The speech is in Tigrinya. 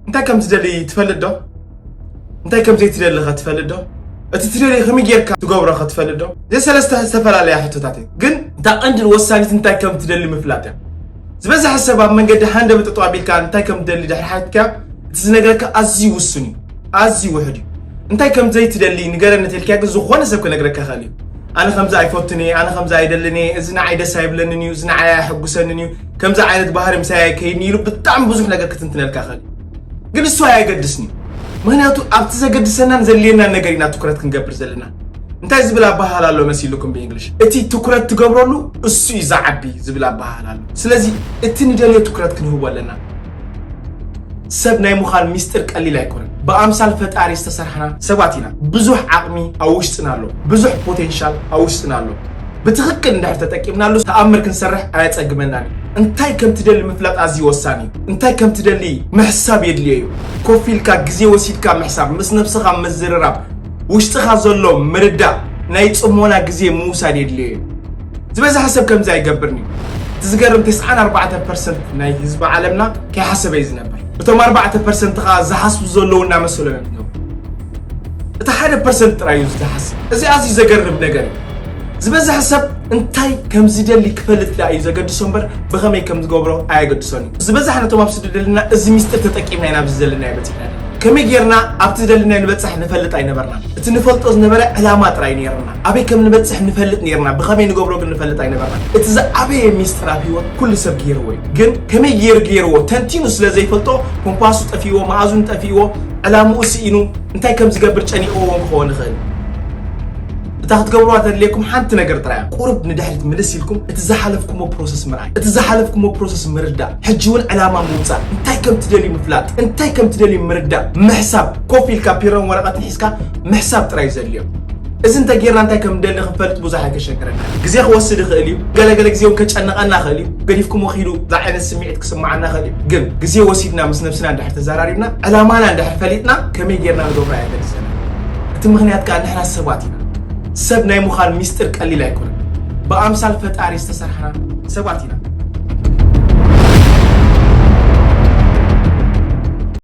እንታይ ከም ትደሊ ትፈልጥ ዶ እንታይ ከም ዘይትደሊ ኸ ትፈልጥ ዶ እቲ ትደሊ ከመይ ጌርካ ትገብሮ ኸ ትፈልጥ ዶ እዚ ሰለስተ ዝተፈላለያ ሕቶታት እየን ግን እታ ቀንድን ወሳኒት እንታይ ከም ትደሊ ምፍላጥ እያ ዝበዝሐ ሰብ ኣብ መንገዲ ሃንደበት ጠጠው ኣቢልካ እንታይ ከም ትደሊ ድሕሪ ሓቲትካዮ እቲ ዝነግረካ ኣዝዩ ውሱን እዩ፣ ኣዝዩ ውሑድ እዩ። እንታይ ከም ዘይትደሊ ንገረኒ እንተኢልካዮ ግን ዝኾነ ሰብ ክነግረካ ይኽእል እዩ። ኣነ ከምዚ ኣይፈቱን እየ፣ ኣነ ከምዚ ኣይደልን እየ፣ እዚ ንዓይ ደስ ኣይብለንን እዩ፣ እዚ ንዓይ ኣየሐጉሰንን እዩ፣ ከምዚ ዓይነት ባህሪ ምሳይ ኣይከይድን ኢሉ ብጣዕሚ ብዙሕ ነገር ክትንትነልካ ይኽእል እዩ። ግን እሱ ኣየገድስን እዩ። ምክንያቱ ኣብቲ ዘገድሰናን ዘድልየናን ነገር ኢና ትኩረት ክንገብር ዘለና። እንታይ ዝብል ኣበሃህላ ኣሎ መሲልኩም ብእንግሊሽ እቲ ትኩረት ትገብረሉ እሱ እዩ ዝዓቢ ዝብል ኣበሃህላ ኣሎ ስለዚ እቲ ንደልዮ ትኩረት ክንህቦ ኣለና ሰብ ናይ ምዃን ሚስጥር ቀሊል ኣይኮነን ብኣምሳል ፈጣሪ ዝተሰርሕና ሰባት ኢና ብዙሕ ዓቕሚ ኣብ ውሽጥና ኣሎ ብዙሕ ፖቴንሻል ኣብ ውሽጥና ኣሎ ብትኽክል እንድሕር ተጠቂምናሉ ተኣምር ክንሰርሕ ኣየጸግመናን እዩ እንታይ ከም ትደሊ ምፍላጥ ኣዝዩ ወሳኒ እዩ እንታይ ከም ትደሊ ምሕሳብ የድልዮ እዩ ኮፍ ኢልካ ግዜ ወሲድካ ምሕሳብ ምስ ነብስኻ ምዝርራብ ውሽጥኻ ዘሎ ምርዳእ ናይ ጽሞና ግዜ ምውሳድ የድልዮ እዩ። ዝበዝሐ ሰብ ከምዚ ኣይገብርን እዩ። እቲ ዝገርም ተስዓን ኣርባዕተን ፐርሰንት ናይ ህዝቢ ዓለምና ከይሓሰበ እዩ ዝነብር። እቶም ኣርባዕተ ፐርሰንት ከኣ ዝሓስቡ ዘለዉ እናመሰሎም እዮም ዝነብሩ። እቲ ሓደ ፐርሰንት ጥራይ እዩ ዝሓስብ። እዚ ኣዝዩ ዘገርም ነገር እዩ። ዝበዝሐ ሰብ እንታይ ከም ዝደሊ ክፈልጥ ደኣ እዩ ዘገድሶ እምበር ብኸመይ ከም ዝገብሮ ኣየገድሶን እዩ። ዝበዛሕና እቶም ኣብ ስደት ዘለና እዚ ሚስጥር ተጠቂምና ኢና ኣብዚ ዘለናዮ በጺሕና። ከመይ ጌርና ኣብቲ ዝደለናዮ ንበጽሕ ንፈልጥ ኣይነበርናን። እቲ ንፈልጦ ዝነበረ ዕላማ ጥራይ እዩ ነይርና። ኣበይ ከም ንበጽሕ ንፈልጥ ነይርና፣ ብኸመይ ንገብሮ ግን ንፈልጥ ኣይነበርናን። እቲ ዝዓበየ ሚስጥር ኣብ ህይወት ኩሉ ሰብ ገይርዎ እዩ። ግን ከመይ ገይሩ ገይርዎ ተንቲኑ ስለ ዘይፈልጦ ኮምፓሱ ጠፊእዎ፣ መኣዝኑ ጠፊእዎ፣ ዕላምኡ ስኢኑ፣ እንታይ ከም ዝገብር ጨኒቕዎ እውን ክኸውን ይኽእል። እታ ክትገብርዋ ተድልየኩም ሓንቲ ነገር ጥራይ እያ። ቁሩብ ንድሕሪት ምልስ ኢልኩም እቲ ዝሓለፍኩሞ ፕሮሰስ ምርኣይ፣ እቲ ዝሓለፍኩሞ ፕሮሰስ ምርዳእ። ሕጂ ውን ዕላማ ምውጻእ፣ እንታይ ከም ትደልዩ ምፍላጥ፣ እንታይ ከም ትደልዩ ምርዳእ፣ ምሕሳብ፣ ኮፍ ኢልካ ፒሮን ወረቐትን ሒዝካ ምሕሳብ ጥራይ እዩ ዘድልዮ። እዚ እንተ ጌርና እንታይ ከም ንደሊ ክንፈልጥ ብዙሕ ኣይከሸግረናን እዩ። ግዜ ክወስድ ይኽእል እዩ፣ ገለ ገለ ግዜ ውን ከጨንቐና ይኽእል እዩ፣ ገዲፍኩሞ ኪዱ ዝዓይነት ስምዒት ክስምዓና ይኽእል እዩ። ግን ግዜ ወሲድና ምስ ነብስና እንድሕር ተዛራሪብና፣ ዕላማና እንድሕር ፈሊጥና ከመይ ጌርና ንገብሮ ኣየገድሰናን። እቲ ምኽንያት ከኣ ንሕና ሰባት ኢና። ሰብ ናይ ምዃን ሚስጥር ቀሊል ኣይኮነን። ብኣምሳል ፈጣሪ ዝተሰርሕና ሰባት ኢና።